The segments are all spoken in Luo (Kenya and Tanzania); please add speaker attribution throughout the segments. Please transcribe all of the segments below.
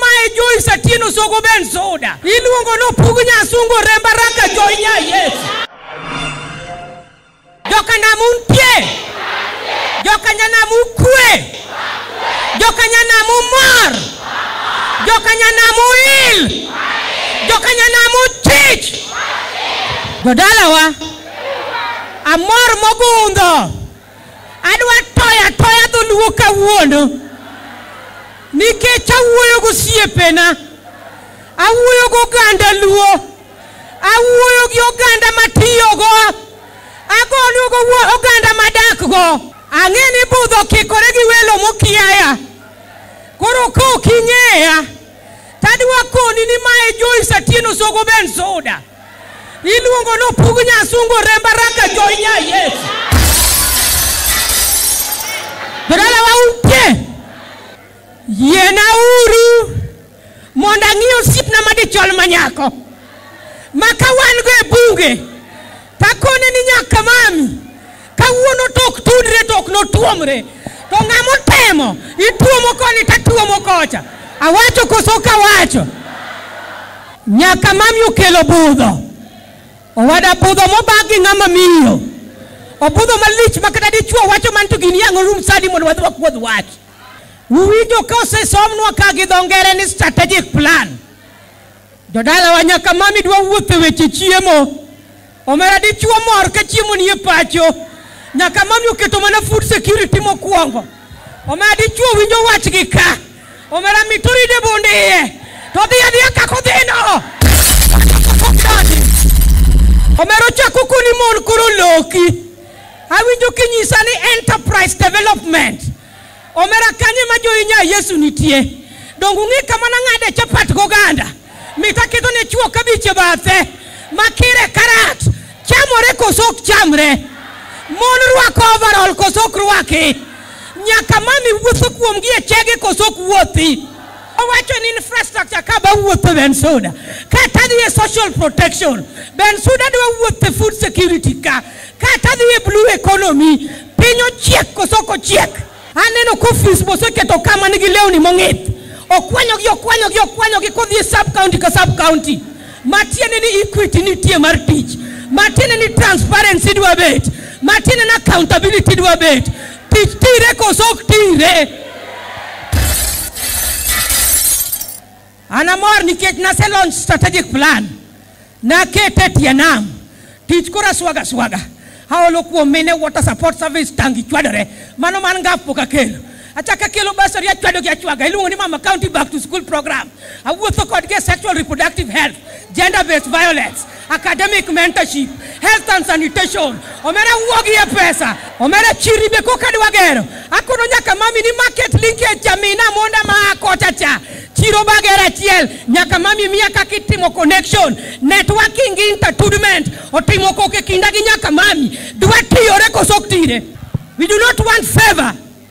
Speaker 1: Mae Joy Satino Sogo Ben Soda. Iluongo nopug nyasungo remba raka Joy nya Yesu. Joka nam un pie. Joka nya nam ukwe. Joka nya nam umor. Joka nya nam uil. Joka nya nam uchich. Jodalawa. Amor mogundho. Adwa toyo atoya dholuo kawuono nikech awuoyo gosiepena, awuoyo goganda luo, awuoyo gi oganda matiyogo, agolo go wuo- oganda madakgo. Ang'e ni budho okikore gi welo mokiaya, koro ka ok ing'eya tadwa koni ni mae Joyce Atieno Sogo Ben Soda. Iluongo ni opug nyasungu remba raka joinya Yesu. Jodala wa upye. Yiena uru mondo ang'i osiepna madichol ma nyako. Ma ka wan go e bunge, takone ni nyaka mami. kawuono to ok tudre to ok notuomre to ng'ama otemo ituomo koni to atuomo kocha awacho koso ok awacho nyaka mami okelo budho owada budho mobag gi ng'ama miyo obudho malich ma kata dichuo wacho man to gini yang'o rum sadi mondo wadhi wakuodh wach uwinjo ka osesomnwa ka gi dho ngere ni strategic plan Jodalawa nyaka mami dwa wuotho weche chiemo. Omera dichuo mor ka chiemo nie pacho. Nyaka mami oketo mana food security mokwongo. Omera dichuo winjo wach gi ka. Omera mitori de bonde iye. To dhi adhiya kako dhino. Omera ochako koni mon koro loki. Awinjo kinyisa ni enterprise development. Omera kanye ma joinya Yesu nitie? Donge ung'e kama nang'ade chapat goganda? Mit aketo ne chwo kabich e bathe, makire karat, chamore koso ok chamre? Mon rwako overall koso ok rwaki? Nyaka mami wuotho kuomgi e chege koso ok wuothi? Owacho ni infrastructure ka ba wuotho Bensouda, kata dhi e social protection, Bensouda dwa wuotho e food security ka. kata dhi e blue economy piny ochiek koso ok ochiek aneno ka ofis moseketo ka man gi lewni mong'ith okwanyogi okwanyogi okwanyogi kodhi e sub county ka sub county matiende ni equity nitie mar tich matiende ni transparency dwa bet matiende ni accountability dwa bet tich tire koso ok tire An amor nikech nase launch strategic plan. Nakete tie nam. Tich kora swaga swaga. Haolo kuom mine water support service tangi chwadore. Mano man ngaf pok akelo. Achaka kelo basari achwado gi achwaga. Iluongo ni mama county back to school program. Awuotho kodgi e sexual reproductive health, gender based violence. academic mentorship, health and sanitation, omera wuogi e pesa, omera chiri be koka dwa gero. Akono nyaka mami ni market linkage chamina monda ma akocha cha. Chiro bagera achiel nyaka mami miya kaka itimo connection, networking gi intertudment otimo koke kinda gi nyaka mami. Dwa tiyore koso ok tire. We do not want favor.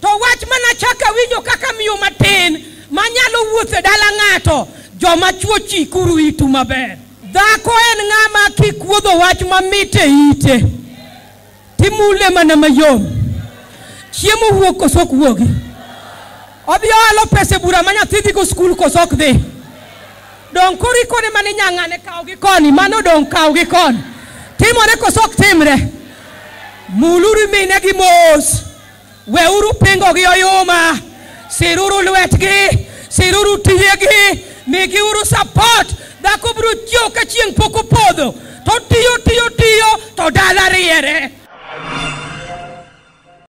Speaker 1: To wach ma nachako awinjo kaka miyo matin ma nyalo wuotho e dala ng'ato, joma chwo chikuru itu maber. Dhako en ng'ama kikuodho wach mamit e ite, timule mana mayom. Chiemo wuok koso ok wuogi? Odhi oalo pesa e bura ma nyathi dhigo skul koso ok dhi? Donge koro ikone mana inya ng'ane kawo gi koni, mano donge kawo gi koni. Timore koso ok timre? Muluru minegi mos. Weuru pingo gi oyuma. Siruru lwetgi, siruru tiyegi, migiuru support. Dhako biro chiew ka chieng' pok opodho. To tiyo tiyo tiyo to dala riere.